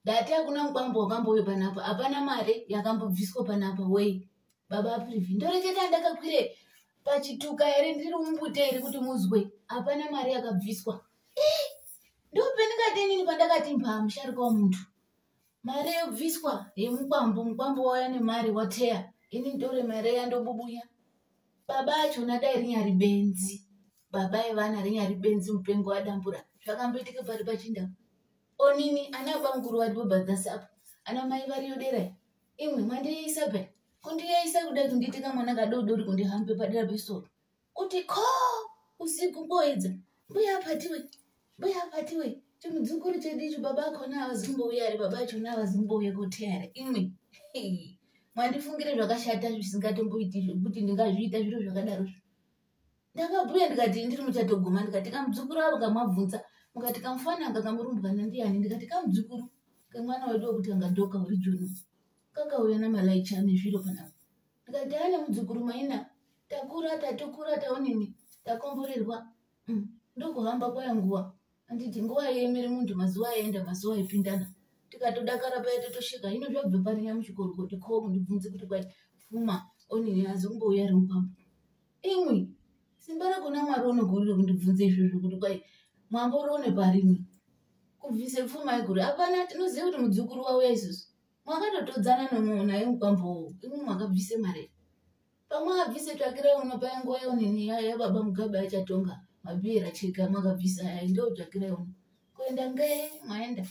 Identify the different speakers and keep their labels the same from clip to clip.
Speaker 1: ndati hakuna mukwambo wakambove panapa hapana mari yakambobviswa panapa wei baba aprivi ndoreketa ndakakwire pachituka here ndiri mumbute here kuti muzwe hapana mari yakabviswa eh, ndopendingatenini pandakati mbaa musharika wamuntu mari yobviswa yemukwambo mukwambo wauya nemari wateya ini ndore mari yandobubuya baba achona dai rinyari benzi baba evana rinyari benzi mupengo wadambura zvakamboitika pari pachindamu onini ana bamukuru vari bobhadhasa apo ana mai variyo dera imwe mandiyaisa pe kundiyaisa kuda kundiita kamwana kadoodori kundihambe padera pesoro kuti ko usiku koedza mbuya apatiwe mbuya apatiwe chimudzukuru chedu icho baba akona avazi kumbouya ari baba achona avazi kumbouya koteare imwe mwandifungire zvakashata zvisingatomboiti zvekuti ndingazviita zviro zvakadaro zvo ndakabhuya ndikati ndiri muchatoguma ndikati kamudzukuru avo kamabvunza mukati kamufana anga kamurumbwana ndiyani ndikati kamudzukuru kamwana wedu wekuti anga doka uri joni kakauya namalaicha ane zviro panapa ndikati ane mudzukuru maina takura tatukura taonini takomborerwa mm, ndokuhamba kwaya nguva anditi nguva yemiri munhu mazuva aenda mazuva aipindana tikatodakara paya totosvika ino zvabva pari nyamuchikorokoto ko kundibvunzi kuti kwai pfuma onini azi kumbouya ri mupambo imwi simba rakona mwari unogurire kundibvunza izvozvo kuti kwai mwambo roone parini kubvise pfuma iguru hapana tinoziva kuti mudzukuru wauya isusu mwakatotodzana nomuonaye mupambowo imwi mwakabvise mari pamwe abvise tsvakira uno paya nguva yaunini yaya yababa mugabe achatonga mabira chika makabvisa yaya ndo tsvakira uno kuenda ngee maenda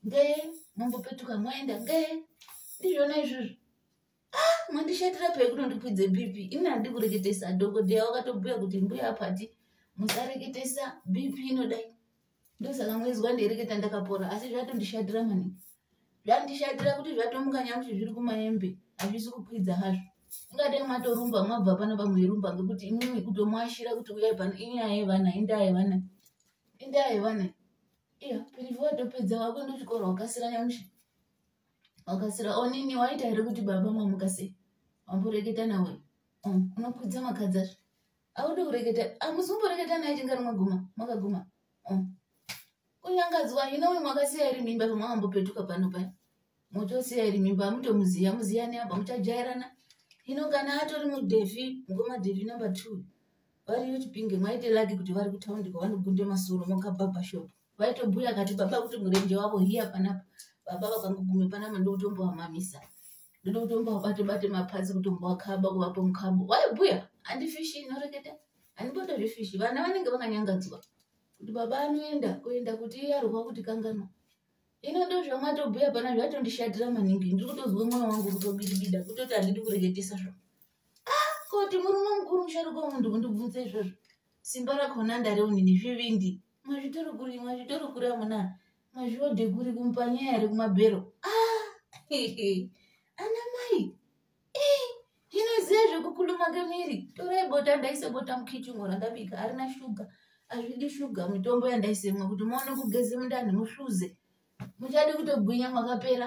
Speaker 1: ngee mambopetuka maenda ngee ndizvona izvozvo ah, mandishatira pei kunondikwidze bp ini handi kureketesa dhokodheya wakatobhuya kuti mbuya apati musareketesa bp inodai ndosaka mwenzwa ndiereketa ndakapora asi zvatondishatira mani zvandishatira kuti zvatomuka nyamuti zviri kumaembe hazvisi kukwidza hazvo ingadai mwatorumba mwabva pano pamwerumba ngekuti imimi kutomuashira kuti uyai pano inyaya yevana indaa yevana indaa yevana iya pirivi watopedza wako ndochikoro wakasira nyamushi wakasira onini waita here kuti baba mwamuka sei wamboreketa nawe mm, unokwidza makadzazve aude kureketa amusi kumboreketa naye chingari maguma makaguma oh. kunyangadziwa hino uyu mwakasiya iri mimba pamwakambopetuka pano paya motosiya iri mimba amutomuziya muziyani apa muchajairana hino kana atori mudhefi mukoma dhefi number two variyo chipinge mwaite laki kuti vari kutaundi kwavanogunda masoro mokabhabhashopu vaitobhuya akati baba kuti murenje wavo hiya panapa baba vakangogume panapa ndokutombovamamisa ndoda kutombovabate bate mapazi kutombovakaba kuvapo mukabo waibhuya handifishi inoreketa handiboda zvefishi vana vanenge vakanyangadzwa kuti baba anoenda kuenda kuti iye arwa kuti kanganwa ino ndo zvamwatobhuya pana zvatondishatira maningi ndiri kutozwa mwoyo wangu kutobidibida kutoti handidi kureketesa zvavo ah, koti murume mukuru musharuka wemunhu kundibvunza izvozvo simba rakona ndareunini zvivindi mazvitori kuri mazvitori kuri amuna mazviode kuri kumpanya yari kumabhero ah, ana mai ndinoziva eh, zvekukuluma kemiri torai bota ndaise bota mukichungo randabika arina shuga azvidi shuga mitombo yandaisemwa kuti maone kugeze mundani muhluze muchadi kutogwinya mwakapera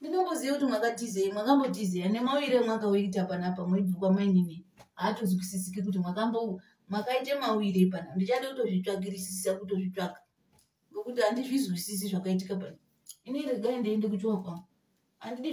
Speaker 1: ndinongoziva kuti mwakatizei mwakambotizei nemauire mwakauita panapa moibvukwa mainini haatozwisisiki kuti mwakambo makaita mauire pana ndichada kutozvitsvakirisisa kutozvitsvaka ngokuti handizvizwisisi zvakaitika pana ini regai ndiende kuchiwa kwangu handidi